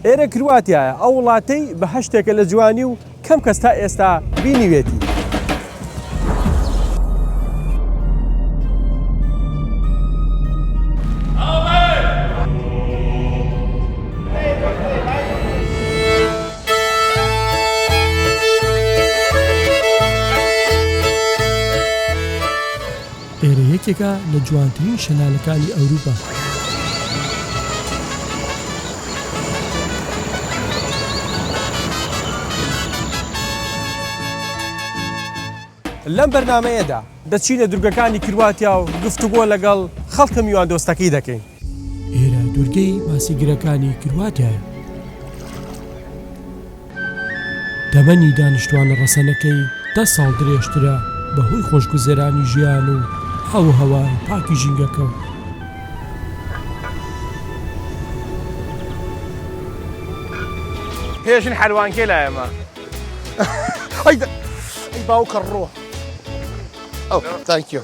ئێرە کرواتیایە، ئەو وڵاتەی بەهەشتێکە لە جوانی و کەم کەس تا ئێستا بینیوێتی. ئێرە یەکێکە لە جوانترین شەلالەکانی ئەوروپا. لەم بەرنامەیەدا دەچینە دورگەکانی کرواتیا و گفتوگۆ لەگەڵ خەڵکە میواندۆستەکەی دەکەین. ئێرە دوورگەی ماسیگرەکانی کرواتیایە. تەمەنی دانیشتوانە ڕەسەنەکەی دە ساڵ درێژترە بەهۆی خۆشگوزەرانی ژیان و ئاووهەوای پاکی ژینگەکە و. هێ ژن حەلوان کێ لایە مە. ئەی باوکە ڕۆ ئەو تانکیو.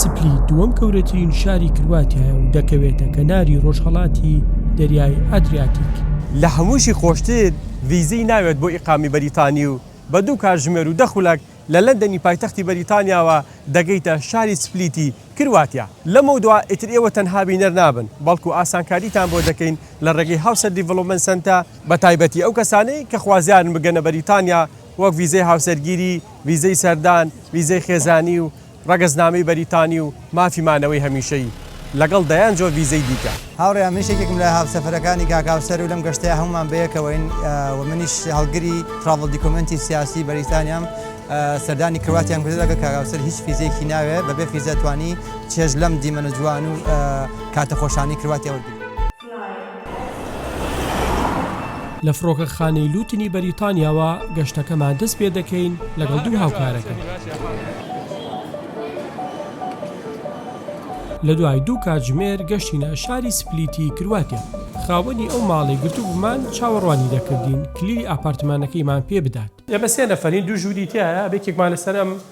سپلیت دووەم گەورەترین شاری کرواتیایە و دەکەوێتە کەناری ڕۆژهەڵاتی دەریای ئەدریاتیک. لە هەمووشی خۆشتر ڤیزەی ناوێت بۆ ئیقامی بەریتانی و بە دوو کاتژمێر و دە خولەک لە لەندەنی پایتەختی بەریتانیاوە دەگەیتە شاری سپلیتی کرواتیا. لەمەودوا ئیتر ئێوە تەنها بینەر نابن بەڵکو ئاسانکاریتان بۆ دەکەین لە ڕێگەی هاوسە دیڤڵۆپمێنت سەنتە، بە تایبەتی ئەو کەسانەی کە خوازیارن بگەنە بەریتانیا وەک ڤیزەی هاوسەرگیری، ڤیزەی سەردان، ڤیزەی خێزانی و ڕەگەزنامەی بەریتانی و مافی مانەوەی هەمیشەیی، لەگەڵ دەیان جۆر ڤیزەی دیکە. هاوڕێیان منیش یەکێکم لە هاوسەفەرەکانی کاک هاوسەر و لەم گەشتەیا هەموومان بەیەکەوەین و منیش هەڵگری تراڤڵ دیکۆمێنتی سیاسی بەریتانیام سەردانی کرواتیام کردوە لەگەڵ کاک هاوسەر هیچ فیزەیەکی ناوێ بەبێ فیزە توانی چێژ لەم دیمەنە جوان و کاتە خۆشانەی کرواتیا وەرگرین. لە فڕۆکەخانەی لوتنی بەریتانیاوە گەشتەکەمان دەست پێ دەکەین لەگەڵ دوو هاوکارەکەم. لە دوای دوو کاتژمێر گەشتینە شاری سپلیتی کرواتیا. خاوەنی ئەو ماڵەی گرتبوومان چاوەڕوانی دەکردین کلیلی ئاپارتمانەکەیمان پێ بدات. ئێمە سێ نەفەرین، دوو ژووری تیایە، یەکێکمان لەسەر ئەم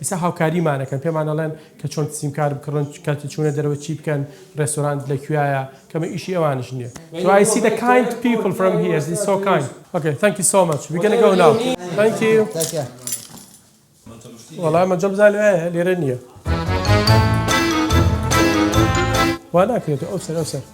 ئیستا هاوکاریمانەکەن پێمان ئەڵێن کە چۆن سیمکارت بکڕن کاتی چوونە دەرەوە چی بکەن ڕێستۆرانت لە کویایە کەمە ئیشی ئەوانیش نیە تو ئای سی دە کایند پیپل فرام هیە سی سۆ کایند ئۆکەی ثانک یو سۆ مەچ وی گەنە گەو ناو ثانک یو وەڵا مەجەڵ بزان لەوێ لێرە نیە وا ناکرێت ئەو سەر ئەو سەر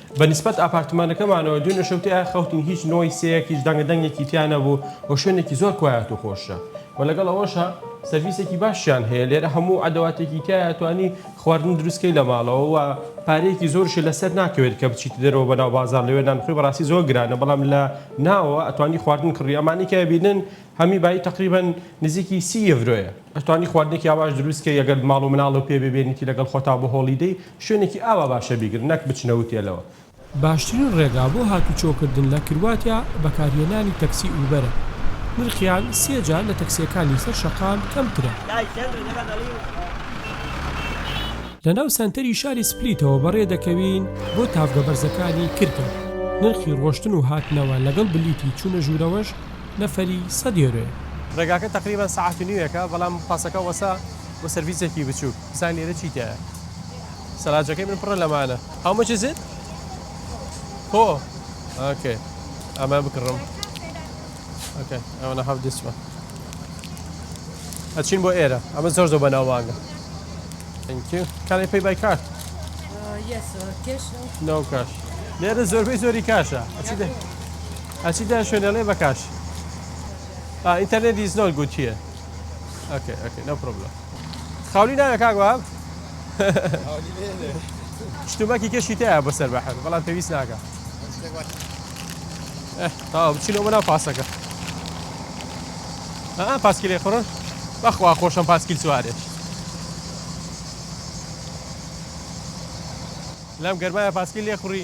بە نیسبەت ئاپارتمانەکەمانەوە دوێنێ شەو تێیا خەوتین هیچ نۆیسێک هیچ دەنگە دەنگێکی تیا نەبوو و شوێنێکی زۆر کوایەت و خۆشە و لەگەڵ ئەوەشا سەرڤیسێکی باشیان هەیە لێرە هەموو ئەدەواتێکی تایە توانی خواردن دروستکەی لە ماڵەوە و پارەیەکی زۆرشی لەسەر ناکەوێت کە بچیت دەرەوە بەناو بازار لەوێ نانخۆی بەڕاستی زۆر گرانە بەڵام لە ناوە ئەتوانی خواردن کڕی ئەمانەی کە بینن هەمی بایی تەقریبەن نزیکی سی یڤرۆیە ئەتوانی خواردنێکی ئاواش دروست کەی ئەگەر ماڵ و مناڵ و پێ ببێنیتی لەگەڵ خۆتا بۆ هۆڵیدەی شوێنێکی ئاوا باشە بیگرن نەک بچنە هوتێلەوە. باشترین ڕێگا بۆ هاتوچۆ کردن لە کرواتیا بەکارهێنانی تەکسی ئوبەرە نرخیان سێ جار لە تەکسیەکانی سەر شەقام کەمترە. لەناو سەنتەری شاری سپلیتەوە بەڕێ دەکەوین بۆ تاڤگە بەرزەکانی کرکە نرخی ڕۆشتن و هاتنەوە لەگەڵ بلیتی چونە ژورەوەش نەفەری سەد یۆرۆیە. ڕێگاکە تەقریبەن سەعات و نیوێکە بەڵام پاسەکە وەسە و سەرڤیسێکی بچووک بزانە لێرە چی تیایە سەلاجەکەی من پڕە لەمانە How much is it؟ هۆ ئۆکەی ئەمە بکڕم ئۆکەی I wanna have this one ئەچین بۆ ئێرە ئەمە زۆر زۆر بەناوبانگە Thank you Can I pay by card؟ Yes sir Cash no؟ No cash لێرە زۆربەی زۆری کاشە ئەچی دە ئەچی دە شوێنەلێ بەکاش ئینتەرنێت دیز نۆت گوت هیە ئەکێ ئەکێ نە پرۆبلە خاولی ناوێ کاک واب شتومەکی کەشی تەیە بەسەر بەحر بەڵام پێویست ناکە تا بچینەوە بەناو پاسەکە ئا پاسکیلێ خڕن بەخوا خۆشم پاسکیل سوارێ لەم گەرمایە پاسکیل لێ خوڕی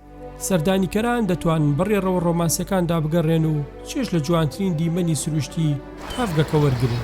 سەردانیکەران دەتوانن بە ڕێڕەوە ڕۆمانسییەکاندا بگەڕێن و چێژ لە جوانترین دیمەنی سروشتی تاڤگەکە وەرگرن.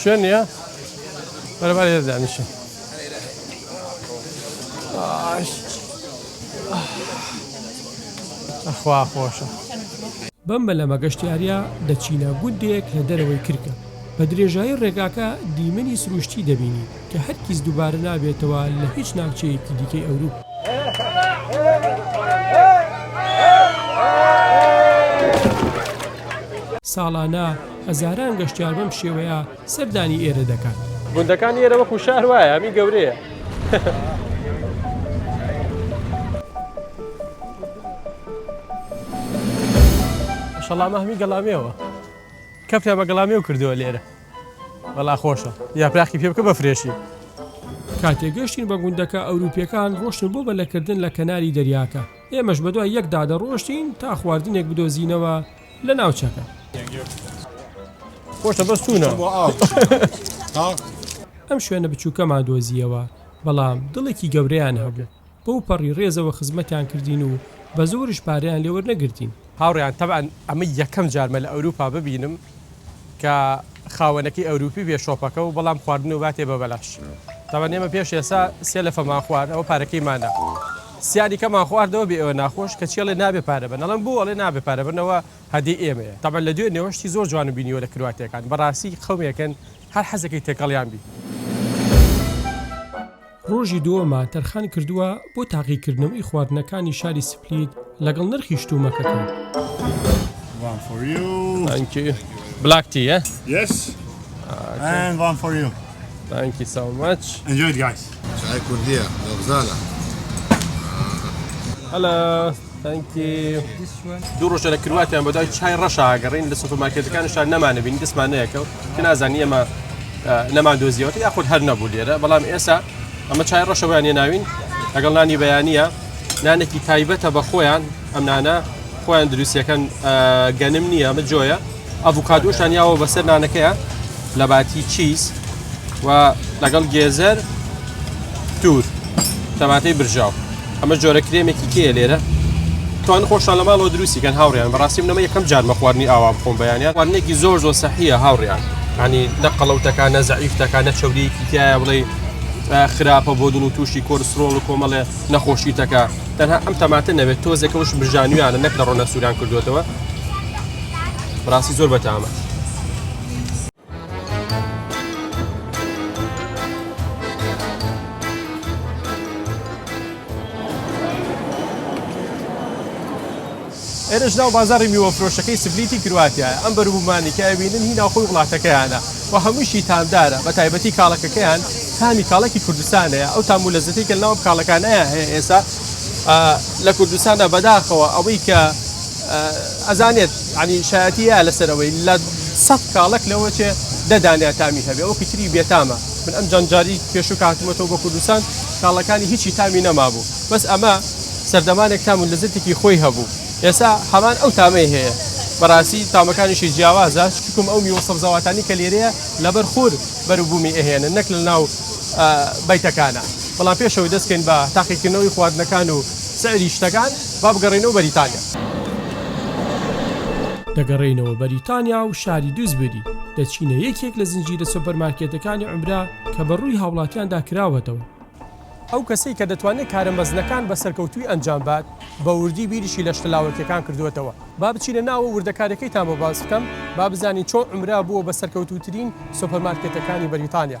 شوێن نیە بەرەبەر هێز دانیشن ئەخوا خۆشە بەم بەلەمە گەشتیاریا دەچینە گوندێک لە دەرەوەی کرکە بە درێژایی ڕێگاکە دیمەنی سروشتی دەبینی کە هەرکیز دووبارە نابێتەوە لە هیچ ناوچەیەکی دیکەی ئەوروپ. ساڵانە هەزاران گەشتیار بەم شێوەیە سەردانی ئێرە دەکات. گوندەکانی ئێرە وەکو شار وایە ئەمی گەورەیە. شەڵامە هەمی گەڵامێوە کەفتە بە گەڵامێو کردووە لێرە بەڵا خۆشە یاپراخی پێ بکە بە فرێشی کاتێ گەشتین بە گوندەکە ئەوروپیەکان ڕۆشتن بۆ بەلەکردن لە کەناری دەریاکە ئێمەش بەدوای یەکدا دەڕۆشتین تا خواردنێک بدۆزینەوە لە ناوچەکە خۆشە بەس توونە ئەم شوێنە بچووکەمان دۆزیەوە بەڵام دڵێکی گەورەیان هەبوو بەو پەڕی ڕێزەوە خزمەتیان کردین و بە زۆرش پاریان لێوەرنەگرتین هاوڕیان تەبان ئەمە یەکەم جارمە لە ئەوروپا ببینم کە خاوەنەکەی ئەوروپی بێ شۆپەکە و بەڵام خواردن و باتێ بە بەلاش تاوان ئێمە پێش ئێسا سێ لە فەمان خوارد ئەوە پارەکەی مادە. سیانی کەمان خواردەوە بێ ئێوە ناخۆش کەچی ئەڵێ نابێ پارە بەن ئەڵێم بۆ ئەڵێ نابێ پارە بەن ئەوە هەدی ئێمەیە تەبعەن لە دوێنێوە شتی زۆر جوانم بینیوە لە کرواتیەکان بەڕاستی قەومێکن هەر حەزەکەی تێکەڵیان بی. ڕۆژی دووەمە تەرخان کردووە بۆ تاقیکردنەوەی خواردنەکانی شاری سپلیت لەگەڵ نرخی شتومەکەکە. Thank you so much. Enjoy it guys. چای کوردیە لەغزالە هەلا تەنکی دوو ڕۆژە لە کرواتیان بەدای چای ڕەشاگەڕین لە سوپماکێتەکان شار نەمانە بین دەستمان نەیەکەوت کە نازانی ئەمە نەمان دۆزیەوەتی یاخود هەر نەبوو لێرە بەڵام ئێسا ئەمە چای ڕەشەوەیان ناوین لەگەڵ نانی بەیانە نانێکی تایبەتە بە خۆیان ئەم نانە خۆیان دروستیەکەن گەنم نییە ئەمە جۆیە ئەڤوکادۆشان یاوە بەسەر نانەکەیە لە باتی چیز و لەگەڵ گێزەر تور تەماتەی برژاو ئەمە جۆرە کرێمێکی کێ لێرە توان خۆشان لە ماڵەوە دروستیکەن هاوڕیان بەڕاستی منەمە یەکەم جار مەخواردنی ئاوا بخۆم بەیانیان وانێکی زۆر زۆر سەحیە هاوڕیان ینی نە قەڵەوتەکان نە زەعیفتەکان نە چەوریەکی تایە بڵێ خراپە بۆ دڵ و تووشی کۆرسرۆڵ و کۆمەڵێ نەخۆشی تەکە تەنها ئەم تەماتە نەوێت تۆزێکەوش برژانویانە نەک لە ڕۆنە سووران کردوێتەوە بەڕاستی زۆر بەتامە ئێرەش ناو بازاری میوەفرۆشەکەی سبلیتی کرواتیایە ئەم بەروبوومانی کە ئەوینن هی ناوخۆی وڵاتەکەیانە و هەمووشی تامدارە بە تایبەتی کاڵەکەکەیان تامی کاڵەکی کوردستانەیە ئەو تام و لەزەتی کە ناو کاڵەکانەیە هەیە ئێستا لە کوردستاندا بەداخەوە ئەوەی کە ئەزانێت یانی شایەتی هەیە لەسەر ئەوەی لە سەد کاڵەک لەوە چێ دە دانە تامی هەبێ ئەوکی تری بێتامە من ئەم جەنجاری پێشوو کاتمەتەوە بە کوردستان کاڵەکانی هیچی تامی نەمابوو بەس ئەمە سەردەمانێک تام و لەزەتێکی خۆی هەبوو ئێستا هەمان ئەو تامەی هەیە بەڕاستی تامەکانیشی جیاوازە چکم ئەو میوە سەبزەواتانی کە لێرەیە لەبەر خور بەروبوومی ئەهێنن نەک لە ناو بیتەکانە بەڵام پێشەوەی دەستکەین بە تاقیکردنەوەی خواردنەکان و سعری شتەکان با بگەڕێینەوە بەریتانیا. دەگەڕێینەوە بەریتانیا و شاری دوزبری دەچینە یەکێک لە زنجیرە سۆپەرمارکێتەکانی عومرا کە بە ڕووی هاوڵاتیاندا کراوەتەوە. ئەو کەسەی کە دەتوانێت کارە مەزنەکان بە سەرکەوتووی ئەنجام بات، بە وردی بیریشی لە شتە لاوەکییەکان کردووەتەوە. با بچینە ناوە وردەکارییەکەیتان بۆ باس بکەم، با بزانین چۆن عومرا بووە بە سەرکەوتووترین سۆپەرمارکێتەکانی بەریتانیا.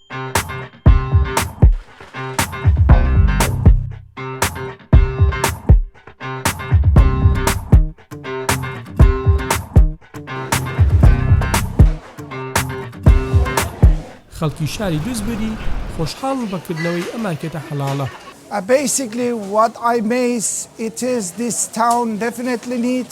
خەڵکی شاری دوزبری خۆشحاڵن بە کردنەوەی ئەم مارکێتە حەڵاڵە. ە بەیسیکلی وات ئای میس ئیت ئیز دیس تاون دەفینێتلی نیت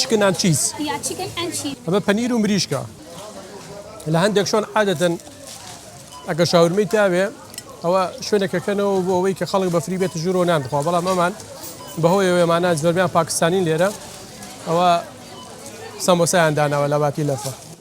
چکن ئەند چیز ئەمە پەنیر و مریشکە لە هەندێک شوێن عادەتەن ئەگە شاورمەی تاوێ ئەوە شوێنەکەکەنەوە بۆ ئەوەی کە خەڵک بە فری بێت ژورۆ نان بخوا بەڵام ئەمان بەهۆی ئەوێمانە زۆربیان پاکستانین لێرە ئەوە سەمۆسایان داناوە لە باتی لەفە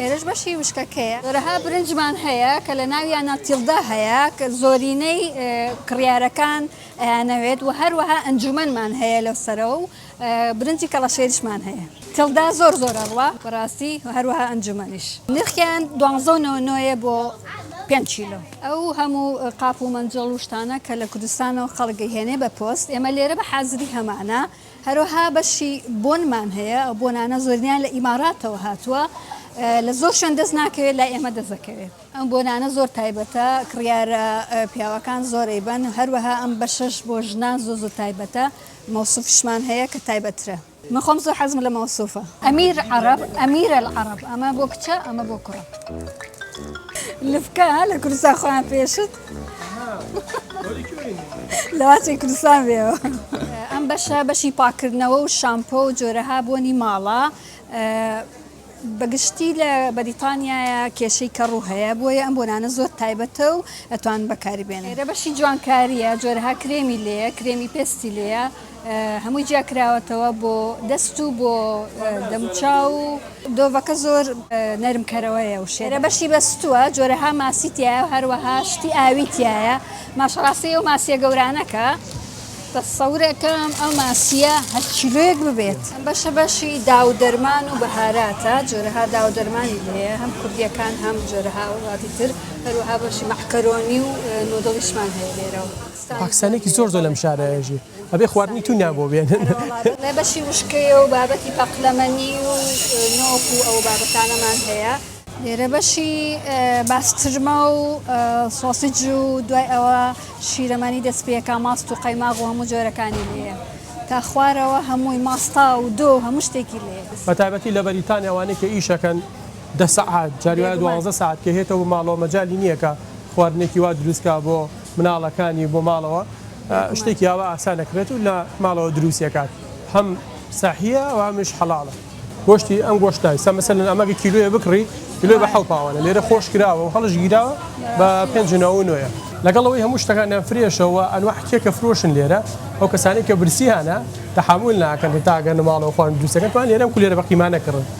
ئێرەش بەشی وشکەکەیە. رەها برنجمان هەیە کە لە ناویانا تیلدا هەیە کە زۆرینەی کڕیارەکان ئەیانەوێت و هەروەها ئەنجوومەنمان هەیە لەو سەرە و برنجی کەڵەشێریشمان هەیە. تیلدا زۆر زۆر ئەڕوا بەڕاستی و هەروەها ئەنجوومەنیش. نرخیان دوانزە و نەوەد و نۆ یە بۆ پێنج کیلۆ. ئەو هەموو قاپ و مەنجەڵ و شتانە کە لە کوردستانەوە خەڵک ئەیهێنێ بە پۆست ئێمە لێرە بە حازری هەمانە. هەروەها بەشی بۆنمان هەیە، ئەو بۆنانە زۆرینەیان لە ئیماراتەوە هاتووە، لە زۆر شوێن دەست ناکەوێت، لای ئێمە دەست دەکەوێت. ئەم بۆنانە زۆر تایبەتە، کڕیارە پیاوەکان زۆر ئەیبەن، هەروەها ئەم بەشەش بۆ ژنان زۆر زۆر تایبەتە، مەوسوفیشمان هەیە کە تایبەتترە. من خۆم زۆر حەزم لە مەوسوفە. ئەمیر عەڕەب، امیر العرب، ئەمە بۆ کچە، ئەمە بۆ کوڕە. لفکە، لە کوردستان خۆیان پێشت. لەواچی کوردستان بێەوە ئەم بەشە بەشی پاکردنەوە و شامپۆ و جۆرەها بۆنی ماڵە بەگشتی لە بەریتانیایە کێشەی کە ڕوو هەیە بۆیە ئەم بۆنانە زۆر تایبەتە و ئەتوان بەکاری بێنێرە بەشی جوانکاریە جۆرەها کرێمی لێە کرێمی پێستی لێە هەمووی جیا کراوەتەوە بۆ دەست و بۆ دەموچاو و دۆڤەکە زۆر نەرم کەرەوەیە و شێرە بەشی بەستووە جۆرەها ماسی تایە و هەروەها شتی ئاوی تایە ماشڕاستی و ماسیە گەورانەکە تەسەورەکەم ئەو ماسیە هەر کیلۆیەک ببێت بەشە بەشی داو دەرمان و بەهاراتە جۆرەها داو دەرمانی هەیە هەم کوردیەکان هەم جۆرەها وڵاتی تر هەروەها بەشی مەحکەرۆنی و نۆدڵیشمان هەیە لێرەوە. پاکستانێکی زۆر زۆر لەم شارەیە ژی ئەبێ خواردنی تونیان بۆ بێنن لە بەشی وشکەیە و بابەتی پەقلەمەنی و نۆک و ئەو بابەتانەمان هەیە لێرە بەشی باسترمە و سۆسیج و دوای ئەوە شیرەمانی دەست پێەکە ماست و قەیماغ و هەموو جۆرەکانی لێە تا خوارەوە هەمووی ماستا و دۆ هەموو شتێکی لێ بە تایبەتی لە بەریتانیا وانێک کە ئیشەکەن دە سەعات جاری دوازە ساعت کە هێتەوە ماڵەوە مەجای نییەکە خواردنێکی وا دروستکە بۆ مناڵەکانی بۆ ماڵەوە شتێکی ئاوا ئاسان ئەکرێت و لە ماڵەوە دروستی ئەکات هەم سەحیە و هەمیش حەڵاڵە. گۆشتی ئەم گۆشت ناویستە مەسەلەن ئەمە گە کیلۆیە بکڕی کیلۆ بە حەو پاوانە لێرە خۆش کراوە و هەڵش گیراوە بە پێنج و نەوە و نۆیە. لەگەڵ ئەوەی هەموو شتەکانیان فرێشە و ئەنواع کێکە فرۆشن لێرە ئەو کەسانەی کە برسیانە تەحەموول ناکەن هەتا ئەگەنە ماڵەوە خۆیان دروست ئەکەن توان لێرەم کولێرە بە قیمانە کڕن.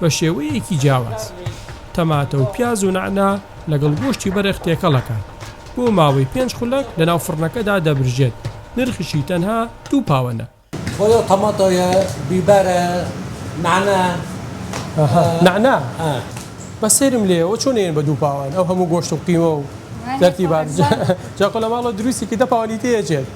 بە شێوەیەکی جیاواز تەماتە و پیاز و نعنا لەگەڵ گۆشتی بەرخ تێکەڵەکان بۆ ماوەی پێنج خولەک لە ناو فڕنەکەدا دەبرژێت نرخشی تەنها دوو پاوەنە خۆی تەماتۆیە بیبەرە نعنا نعنا بە سرم لێەوە چۆنێن بە دوو پاوان ئەو هەموو گۆشت و قیمە و دەرتی بار جاقۆ لە ماڵەوە دروستی کە دە پاوانی تێچێت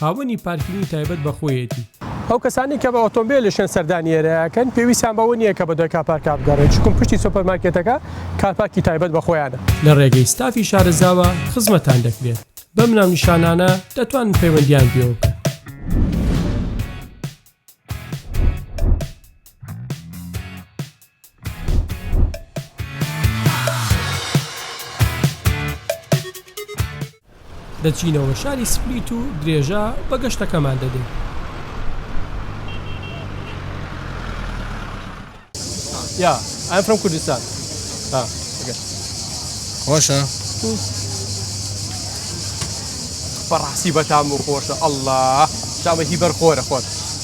خاوەنی پارکینگی تایبەت بە خۆیەتی. ئەو کەسانەی کە بە ئۆتۆمبێلشیان سەردانی ئێرە ئەکەن پێویستیان بەوە نییە کە بە دوای کارپارکا بگەڕێن، چونکە پشتی سۆپەرمارکێتەکە کارپارکی تایبەت بە خۆیانە. لە ڕێگەی ستافی شارەزاوە خزمەتتان دەکرێت، بەم ناونیشانانە دەتوانن پەیوەندییان پێوە بکەن. دەچینەوە شاری سپلیت و درێژە بە گەشتەکەمان دەدەین یا ئەم فرم کوردستان خۆشە بەڕاستی بەتام و خۆشە ئەله شامە هی بەرخۆرە خۆت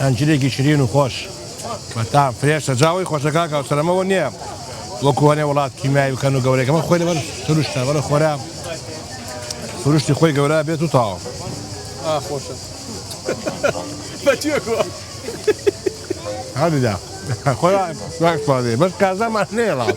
ئەنجیرێکی شرین و خۆش بە تام فرێش سەجاوەی خۆشە کاکە و سەرەمەوە نییە وەکو هەنێ وڵات کیمیایی بکەن و گەورەکەمە خۆی لەبەر سروشتە بەرە خۆرا سروشتی خۆی گەورە بێت و تاوە خۆشە هەردا خۆ بەس کازەمان نێڵاو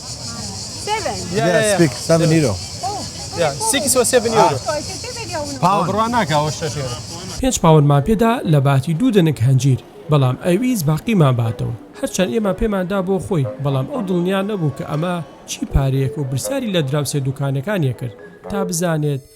پێنج پاوەنمان پێدا لە باتی دوو دەنک هەنجیر، بەڵام ئەویست باقیمان باتەوە. هەرچەند ئێمە پێمان دا بۆ خۆی، بەڵام ئەو دڵنیا نەبوو کە ئەمە چی پارەیەکە و برسیاری لە دراوسێ دوکانەکانیە کرد تا بزانێت،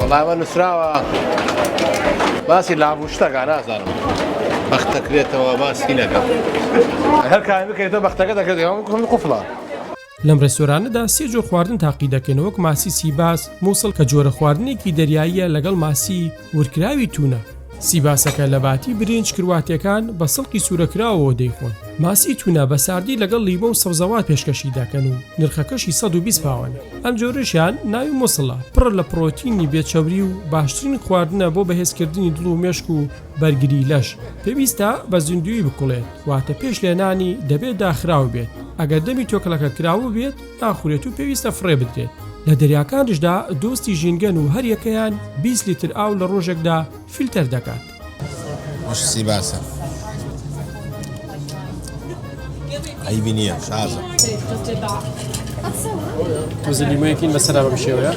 وەڵامە نووسراوە باسی لابوو شتەکە نازانم بەخت دەکرێتەوە باسی نەکە هەر کار بکەێتەوە بەختەکە دەکرێت کوم قفڵە لەم ڕێستۆرانەدا سێ جۆر خواردن تاقی دەکەن وەک ماسی سیباس مووسڵ کە جۆرە خواردنێکی دەریاییە لەگەڵ ماسی ورکراوی تونە، سیباسەکە لە باتی برینج کرواتیەکان بە سڵقی سورەکراوەوە دەیخۆن، ماسی تونە بە ساردی لەگەڵ لیمۆ و سەوزەوات پێشکەشی دەکەن و نرخەکەشی سەد و بیست پاوەنە، ئەم جۆرەشیان ناوی موسڵە، پڕە لە پڕۆتینی بێ چەوری و باشترین خواردنە بۆ بەهێزکردنی دڵ و مێشک و بەرگری لەش، پێویستە بە زیندووی بکوڵێت واتە پێش لێنانی دەبێت داخراو بێت، ئەگەر دەمی تۆکڵەکە کراوە بێت، ناخورێت و پێویستە فڕێ بدرێت لە دەریاکانشدا دۆستی ژینگەن و هەریەکەیان 20 لیتر ئاو لە ڕۆژێکدا فیلتەر دەکات سی باسە عیبی نییە شازە زلیمەیەکین بەسەر بەم شێوەیە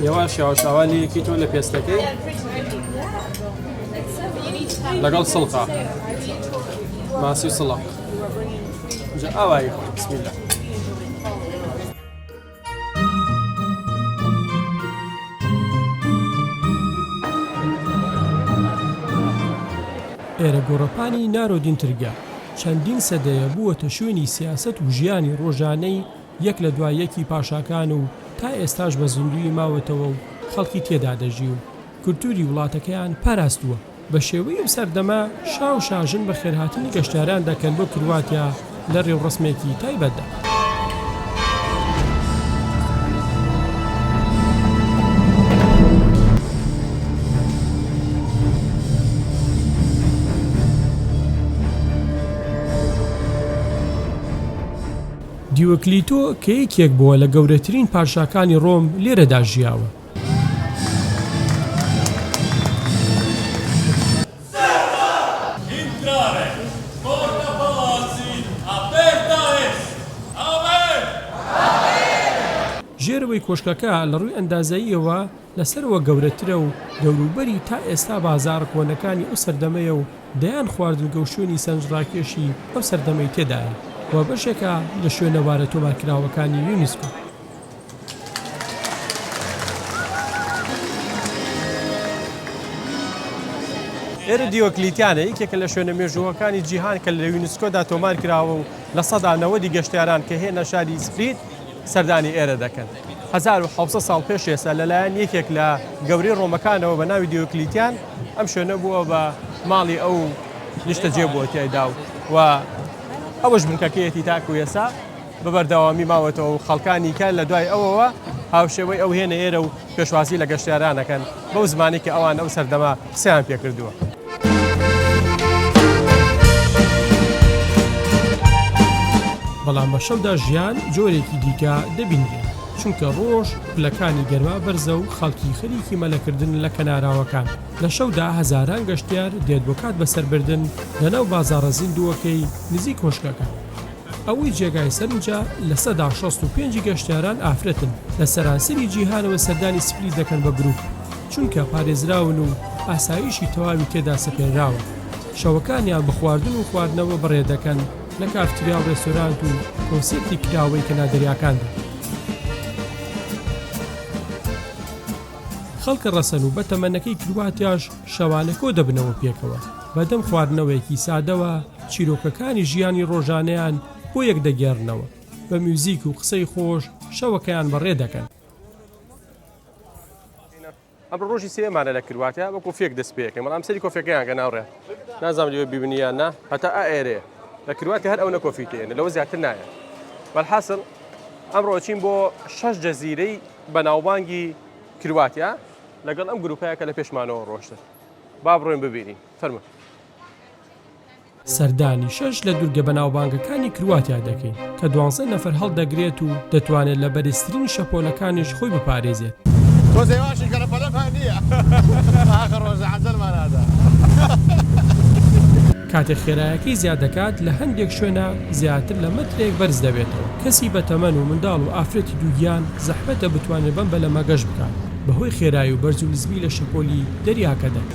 یەواش یاواشاوالەیەکی تۆ لە پێستەکەی لەگەڵ سڵقا ماسی سڵق ئێرە گۆڕەپانی نارۆدین ترگە چەندین سەدەیە بووەتە شوێنی سیاسەت و ژیانی ڕۆژانەی یەک لە دوای یەکی پاشاکان و تا ئێستاش بە زیندووی ماوەتەوە و خەڵکی تێدا دەژی و کولتووری وڵاتەکەیان پاراستووە. بە شێوەی ئەو سەردەمە، شا و شاژن بەخێرهاتنی گەشتیاران دەکەن بۆ کرواتیا لە رێوڕەسمێکی تایبەتدا. دیۆکلیتۆ کە یەکێک بووە لە گەورەترین پادشاکانی رۆم لێرەدا ژیاوە. ژێرەوەی کۆشکەکە لە ڕووی ئەندازەییەوە لە سەرەوە گەورەترە و دەوروبەری تا ئێستا بازاڕە کۆنەکانی ئەو سەردەمەیە و دەیان خواردنگە و شوێنی سەرنجڕاکێشی ئەو سەردەمەی تێدایە و بەشێکە لە شوێنەوارە تۆمارکراوەکانی یونیسکۆ. ئێرە دیۆکلیتیانە یەکێکە لە شوێنە مێژووەکانی جیهان کە لە یونسکۆدا تۆمار کراوە و لە سەدا نەوەدی گەشتیاران کە هێنە شاری سپیت سەردانی ئێرە دەکەن. 1970 ساڵ پێش ئێستا لەلایەن یەکێک لە گەورەی ڕۆمەکانەوە بە ناوی دیۆکلیتیان ئەم شوێنە بووە بە ماڵی ئەو نیشتەجێ بووە تیایدا و و ئەوەش بنکەکەیەتی تاکو ئێسا بە بەردەوامی ماوەتەوە و خەڵکانی کە لە دوای ئەوەوە هاوشێوەی ئەو هێنە ئێرە و پێشوازی لە گەشتیاران ئەکەن بەو زمانی کە ئەوان ئەو سەردەمە قسەیان پێ کردووە. بەڵام بە شەودا ژیان جۆرێکی دیکە دەبینرێت چونکە ڕۆژ پلەکانی گەرما بەرزە و خەڵکی خەریکی مەلەکردن لە کەناراوەکان لە شەودا هەزاران گەشتیار دێت بۆ کات بەسەربردن لەناو بازاڕە زیندووەکەی نزیک کۆشکەکە ئەوەی جێگای سەرنجە لە سەدا شەست و پێنج گەشتیاران ئافرەتن، لە سەرانسەری جیهانەوە سەردانی سپلیت دەکەن بە گروپ، چونکە پارێزراون و ئاسایشی تەواوی تێدا سەپێنراوە، شەوەکانیان بە خواردن و خواردنەوە بەڕێ دەکەن لە کافتریا و ڕێستۆرانت و کۆنسێرتی کراوەی کەنار دەریاکاندا. خەڵکە ڕەسەن و بەتەمەنەکەی کرواتیاش شەوانە کۆدەبنەوە پێکەوە بەدەم خواردنەوەیەکی سادەوە، چیرۆکەکانی ژیانی ڕۆژانەیان بۆ یەک دەگێڕنەوە، بە میوزیک و قسەی خۆش شەوەکەیان بەڕێ دەکەن. ئەمڕۆ ڕۆژی سێمانە لە کرواتیا بە کۆفێک دەست پێکەن بەڵام سەری کۆفێکەیان گە ناوڕێ نازام لێوە بیبنیان نا هەتا ئەئێرێ لە کرواتیا هەر ئەو نە کۆفی تێن لەوە زیاتر نایە بەحاصل ئەمڕۆچین بۆ شەش جەزیرەی بەناوبانگی کرواتیا لەگەڵ ئەم گروپەیە کە لە پێشمانەوە ڕۆشتن با بڕۆین ببینین فەرمە سەردانی شەش لە دوورگە بەناوبانگەکانی کرواتیا دەکەین کە دوانزە نەفەر هەڵدەگرێت و دەتوانێت لە بەرزترین شەپۆلەکانیش خۆی بپارێزێت. کاتێک خێرایەکەی زیاد دەکات، لە هەندێک شوێنا زیاتر لە مەترێک بەرز دەبێتەوە. کەسی بەتەمەن و منداڵ و ئافرەتی دووگیان زەحمەتە بتوانێت بەم بەلەمە گەشت بکات بەهۆی خێرایی و بەرز و نزمی لە شەپۆلی دەریاکەدا.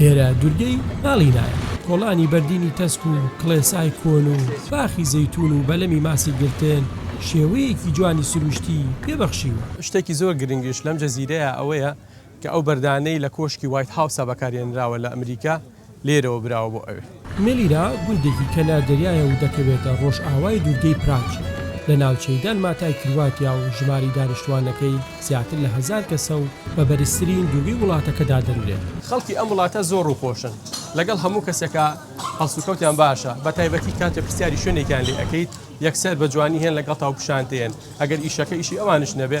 ئێرە دورگەی ئاڵینایە. کۆڵانی بەردینی تەسک و کڵێسای کۆن و باخی زەیتوون و بەلەمی ماسی گرتن شێوەیەکی جوانی سروشتی پێ بەخشیوە. شتێکی زۆر گرنگیش لەم جزیرەیە ئەوەیە کە ئەو بەردانەی لە کۆشکی وایت هاوسا بەکارهێنراوە لە ئەمریکا، لێرەوە براوە بۆ ئەوێ. مێلیرا گوندێکی کەنار دەریایە و دەکەوێتە ڕۆژئاوای دوورگەی پراچ لە ناوچەی دالماتای کرواتیا و ژمارەی دانیشتووانەکەی زیاتر لە هەزار کەسە و بە بەرزترین دوورگەی وڵاتەکە دادەنرێت. خەڵکی ئەم وڵاتە زۆر ڕووخۆشن لەگەڵ هەموو کەسێکا هەڵسوکەوتیان باشە بە تایبەتی کاتێ پرسیاری شوێنێکیان لێ ئەکەیت یەکسەر بە جوانی هێن لەگەڵتاو پیشانت دەیەن ئەگەر ئیشەکە ئیشی ئەوانیش نەبێ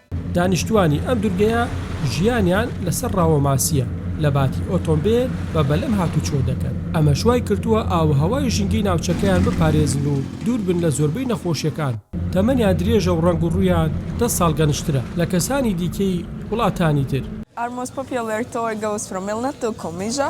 دانیشتوانی ئەم دورگەیە ژیانیان لەسەر ڕاوە ماسییە لە باتی ئۆتۆمبێل بە بەلەم هاتوچۆ دەکەن، ئەمەش وای کردووە ئاووهەوای ژینگەی ناوچەکەیان بپارێزن و دوور بن لە زۆربەی نەخۆشیەکان، تەمەنیان درێژە و ڕەنگ و ڕوویان دە ساڵ گەنجترە لە کەسانی دیکەی وڵاتانی تر. ئارمۆس پۆپیۆلێرتۆ ئێگەوس فرۆ مێلنەت دۆ کۆمیژە.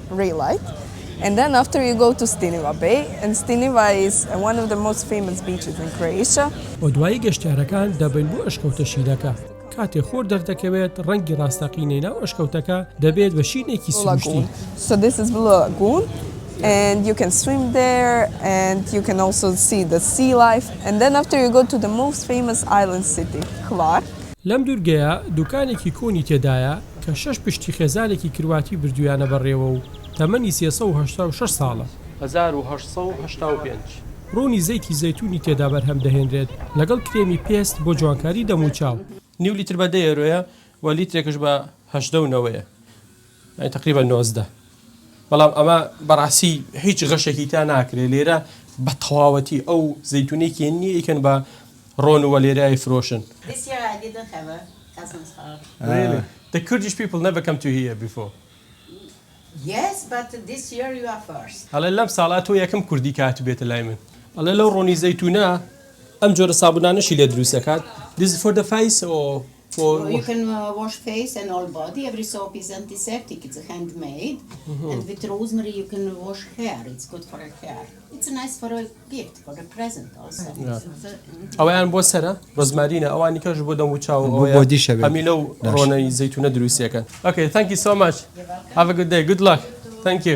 ڕیلایت ئێن دەن ئافتەر یو گۆ تو ستینیڤا بەی ئێن ستینیڤا ئیز وان ئۆف دە مۆست فەیمەس بیچز ئین کروئیشا. و دوایی گەشتیارەکان دەبن بۆ ئەشکەوتە شینەکە. کاتێ خۆر دەردەکەوێت ڕەنگی ڕاستەقینەی ناو ئەشکەوتەکە دەبێت بە شینێکی سروشتی. لەم دوورگەیە دوکانێکی کۆنی تێدایە، کە شەش پشتی خێزانێکی کرواتی بردوویانە بەڕێوە و تەمەنی سێ سەد و هەشتا و شەش ساڵە. هەزار و هەشت سەد و هەشتا و پێنج. ڕوونی زەیتی زەیتوونی تێدا بەرهەم دەهێنرێت، لەگەڵ کرێمی پێست بۆ جوانکاری دەم و چاو. نیو لیتر بە دە یۆرۆیە و لیترێکش بە هەژدە و نەوەیە، یانی تەقریبەن نۆزدە. بەڵام ئەمە بەڕاستی هیچ غەشێکی تا ناکرێت لێرە بە تەواوەتی ئەو زەیتونەی کێن نیە ئیکەن بە ڕۆن و وەلێرای فرۆشن The Kurdish people never come to here before ئەڵێ لەم ساڵە تۆ یەکەم کوردی کە هاتبێتە لای من ئەڵێ لەو ڕۆنی زەیتونە ئەم جۆرە سابونانەشی لێ دروست دەکات This is for the face or ئەوەیان بۆ سەرە ڕۆزمارینە ئەوانی کەش بۆ دەم وچاو ئەوەیەمیلە و ڕۆنەی زەیتونە دروستەکەن ئەکەی تەنکی سۆماچ هەڤگدەی گوت لاک تەنکی.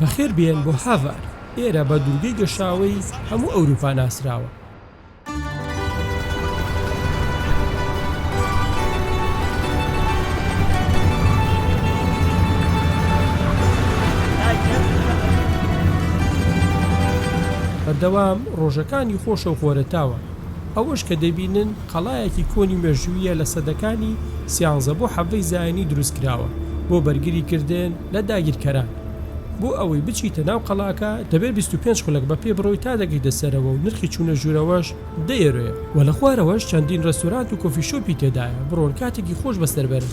بەخێربێن بۆ هاڤار، ئێرە بە دوورگەی گەشاوەی هەموو ئەوروپا ناسراوە. بەردەوام ڕۆژەکانی خۆشە و خۆرەتاوە، ئەوەش کە دەبینن قەڵایەکی کۆنی مێژووییە لە سەدەکانی سیانزە بۆ حەڤدەی زایینی دروستکراوە بۆ بەرگری کردن لە داگیرکەران. بۆ ئەوەی بچیتە ناو قەڵاکە دەبێت بیست و پێنج خولەک بە پێ بڕۆی تا دەگەیتە سەرەوە و نرخی چوونە ژوورەوەش دە یۆرۆیە و لە خوارەوەش چەندین ڕێستۆرانت و کۆفی شۆپی تێدایە بڕۆن کاتێکی خۆش بەسەر بەرن.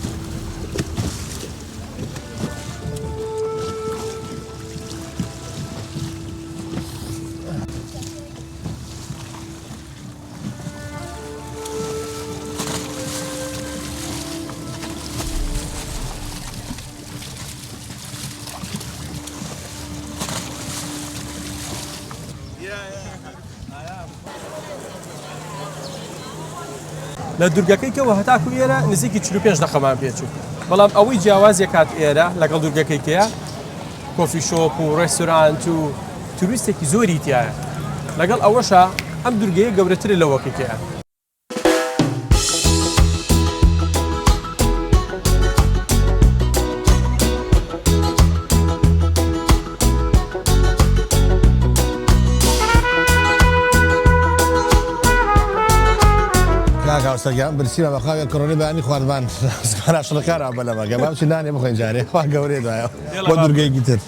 لە دوورگەکەی کەەوە هەتاکو ئێرە نزیکی 45 دقەمان پێچوو بەڵام ئەوەی جیاوازێکات ئێرە لەگەڵ دوورگەکەی کەیە کۆفی شۆپ و ڕێستورانت و توریستێکی زۆری تایە لەگەڵ ئەوەشە ئەم دورگەیە گەورەتر لەوەکە تێە سەگیان برسیمە بەخواێ کڕۆنی بانی خواردمان شڵکارا بەلەمەگە بامچی نانێ بخۆین جارێ خوا گەورێ دایە. بۆ دورگەیەکی تر.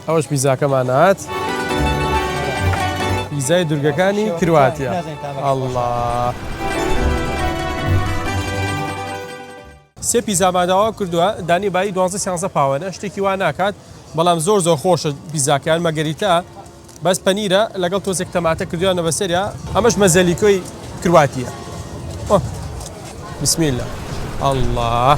ئەوەش پیزاکەمان هات. پیزای دورگەکانی کرواتیا ئەڵڵا. سێ پیزامان داوا کردووە دانی بایی دوازدە سیانزە پاوەنە شتێکی وا ناکات بەڵام زۆر زۆر خۆشە پیزاکەیان مەگەریتە بەس پەنیرە لەگەڵ تۆزێک تەماتە کردویانە بەسەریا ئەمەش مەزەلیکۆی کرواتیە بسمیلە ئەڵڵا.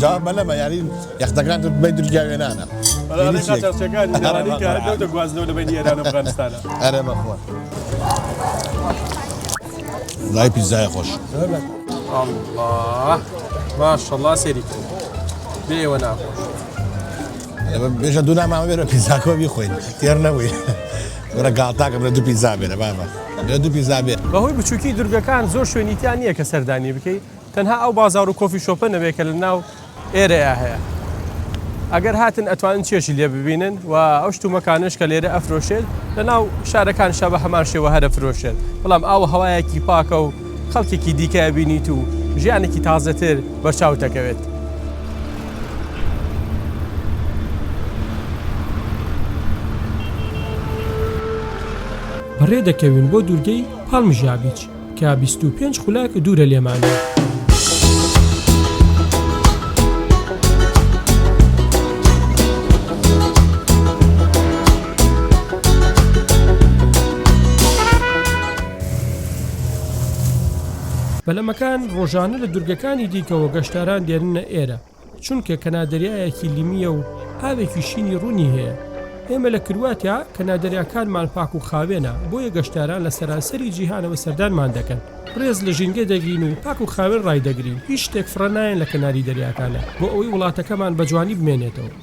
جواب بەلە بە یاری یەخدەگران بە درگا وێنانە گوازنەوە لە بین ئێران ئەفغانستانە ئەرە بەخۆ لای پیزای خۆش ماشەڵا سێری بێوە ناخۆش بێژە دوو ناماوە بێرە پیزاکۆ بیخۆین تێر نەبووی ورە گاڵتاکەم لە دوو پیزا بێرە بابە لە دوو پیزا بێت بەهۆی بچووکی دورگەکان زۆر شوێنیتیان نییە کە سەردانی بکەیت تەنها ئەو بازار و کۆفی شۆپە نەبێت کە لە ناو ئێرەیا هەیە ئەگەر هاتن ئەتوانن چێژی لێ ببینن و ئەو شتومەکانش کە لێرە ئەفرۆشێت لە ناو شارەکان شە بە هەمان شێوە هەرە فرۆشێت بەڵام ئاو هەوایەکی پاکە و خەڵکێکی دیکە بینیت و ژیانێکی تازەتر بەرچاو دەکەوێت. بەڕێ دەکەوین بۆ دوورگەی پاڵمژابیچ کە بیست و پێنج خولاک دوورە لێمانە. پەلەمەکان ڕۆژانە لە دورگەکانی دیکەوە گەشتاران دێننە ئێرە. چونکە کەنا دەریایەکی لیمییە و ئاوێکی شینی ڕوونی هەیە. ئێمە لە کرواتیا کەنا دەریاکانمان پاک و خاوێنە، بۆیە گەشتیاران لە سەرانسەری جیهانەوە سەردانمان دەکەن. ڕێز لە ژینگە دەگرین و پاک و خاوێن ڕایدەگرین، هیچ شتێک فڕە نایەن لە کەناری دەریاکانە، بۆ ئەوەی وڵاتەکەمان بە جوانی بمێنێتەوە.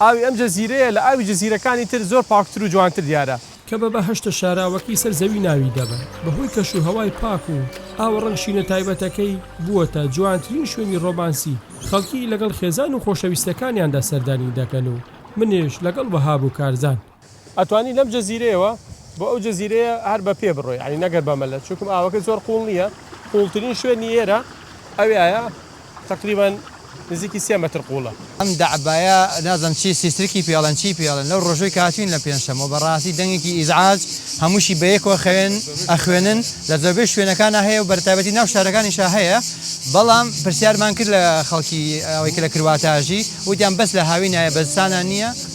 ئاوی ئەم جزیرەیە لە ئاوی جزیرەکانی تر زۆر پاکتر و جوانتر دیارە. کە بە بەهەشتە شاراوەکەی سەر زەوی ناوی دەبەن، بەهۆی کەش و هەوای پاک و ئاوە ڕەنگ شینە تایبەتەکەی، بووەتە جوانترین شوێنی ڕۆمانسی، خەڵکی لەگەڵ خێزان و خۆشەویستەکانیاندا سەردانی دەکەن و منیش لەگەڵ وەهاب و کارزان. ئەتوانی لەم جزیرەیەوە بۆ ئەو جزیرەیە هەر بە پێ بڕۆی یانی نەگەر بە مەلە چونکم ئاوەکە زۆر قوڵ نییە قوڵترین شوێنی ئێرە ئەویایە تەقریبەن نزیکی سێ مەتر قوڵە. ئەم دەعبایە نازم چی سیسترکی پێ ئەڵێن چی پێ ئەڵێن لەو ڕۆژوەی کە هاتوین لە پێنجشەممە بەڕاستی دەنگێکی ئیزعاج هەمووشی بەیەکەوە خەوێن ئەخوێنن لە زۆربەی شوێنەکانا هەیە و بەرتایبەتی ناو شارەکانیشا هەیە بەڵام پرسیارمان کرد لە خەڵکی ئەوەی کە لە کرواتە ئەژی وتیان بەس لە هاوینایە بە زستانا نییە.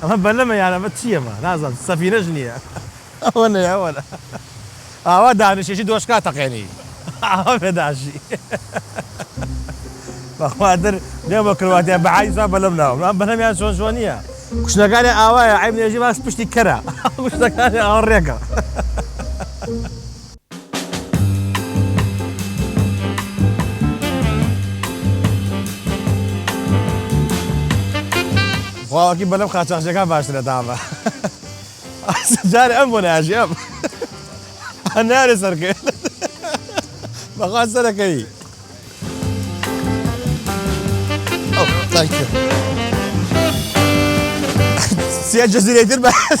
ئەمە بەلەمە یان ئەمە چیە ئەمە نازانم سەفینەش نیە ئەوە نەی ئەوە نە ئاوا دانیشێشی دۆشکا تەقێنی ئاوا پێداشی بەخوا تر دێم بە کرواتیا بە عەیسا بەلەم ناوم ئەم بەلەمیان چۆن چۆن نیە کوشتەکانی ئاوایە عیب نێژی باس پشتی کەرە کوشتەکانی ئاڕێکە واوەکی بەلەم قاچاخچەکان باشترە تامە جارێ ئەم بۆ ناژی ئەم هەنارێ سەرکرد بەخوا سەرەکەی سێ جەزیرەی تر بەس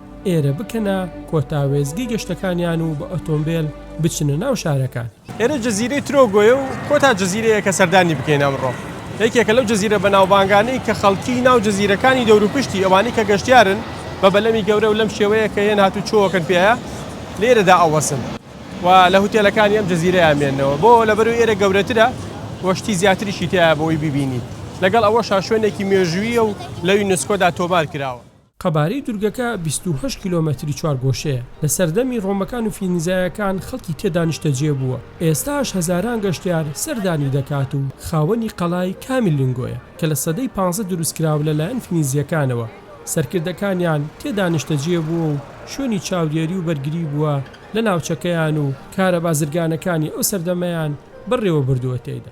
ئێرە بکەنە کۆتا وێستگەی گەشتەکانیان و بە ئۆتۆمبێل بچنە ناو شارەکان. ئێرە جزیرەی ترۆگۆیە و کۆتا جزیرەیە کە سەردانی بکەین ئەمڕۆ. یەکێکە لەو جزیرە بەناوبانگانەی کە خەڵکی ناو جزیرەکانی دەوروپشتی ئەوانەی کە گەشتیارن بە بەلەمی گەورە و لەم شێوەیە کە یەن هاتووچۆەکەن پێیە لێرەدا ئەوەسن و لە هوتێلەکانی ئەم جزیرەیە مێننەوە بۆ لەبەروی ئێرە گەورەترە و شتی زیاتریشی تیایە بۆی ببینی لەگەڵ ئەوەشا شوێنێکی مێژوویە و لە یونسکۆدا تۆمار کراوە. قەبارەی دورگەکە بیست و هەشت کیلۆمەتری چوارگۆشەیە، لە سەردەمی ڕۆمەکان و فینیزایەکان خەڵکی تێدا نیشتەجێ بووە، ئێستاش هەزاران گەشتیار سەردانی دەکات و خاوەنی قەڵای کامی لینگۆیە کە لە سەدەی پانزە دروستکرا و لەلایەن فینیزییەکانەوە سەرکردەکانیان تێدا نیشتەجێ بووە و شوێنی چاودێری و بەرگری بووە لە ناوچەکەیان و کارە بازرگانەکانی ئەو سەردەمەیان بەڕێوەبردووە تێیدا.